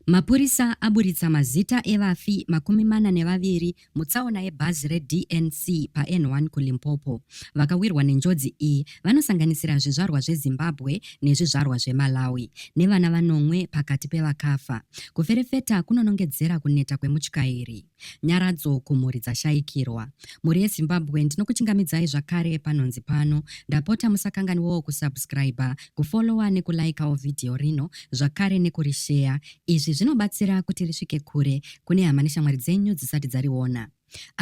Mapurisa aburitsa mazita evafi makumi mana nevaviri mutsaona yebhazi reDNC paN1 kuLimpopo. Vakawirwa nenjodzi iyi vanosanganisira zvizvarwa zveZimbabwe nezvizvarwa zveMalawi nevana vanomwe pakati pevakafa. Kuferefeta kunonongedzera kuneta kwemutyairi. Nyaradzo kumhuri dzashaikirwa. Mhuri yeZimbabwe ndinokuchingamidzai zvakare panhonzi pano. Ndapota musakanganiwawo kusubscriber, kufollowa nekulikawo vhidhiyo rino zvakare nekurisheya. Izvi zvinobatsira kuti risvike kure kune hama neshamwari dzenyu dzisati dzariona.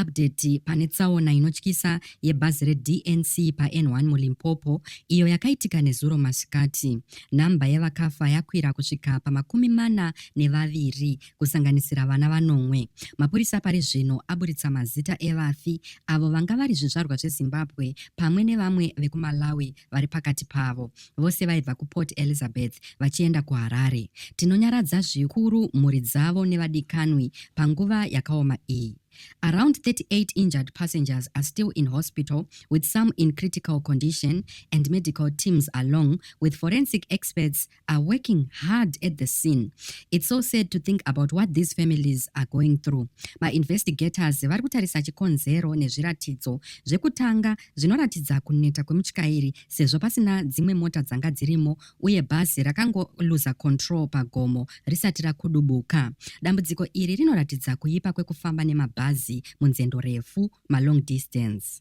Update pane tsaona inotyisa yebhazi reDNC paN1 muLimpopo iyo yakaitika nezuro masikati. Nhamba yevakafa yakwira kusvika pamakumi mana nevaviri kusanganisira vana vanomwe. Mapurisa pari zvino aburitsa mazita evafi avo vanga vari zvizvarwa zvezimbabwe pamwe nevamwe vekumalawi vari pakati pavo vose vaibva kuport elizabeth vachienda kuharare tinonyaradza zvikuru mhuri dzavo nevadikanwi panguva yakaoma iyi Around 38 injured passengers are still in hospital, with some in critical condition, and medical teams along with forensic experts are working hard at the scene. It's so sad to think about what these families are going through. Mainvestigators vari kutarisa chikonzero nezviratidzo zvekutanga zvinoratidza kuneta kwemutyairi sezvo pasina dzimwe mota dzanga dzirimo uye bhazi rakangoluza control pagomo risati rakudubuka. Dambudziko iri rinoratidza kuipa kwekufamba nemabhazi munzendo refu, malong distance.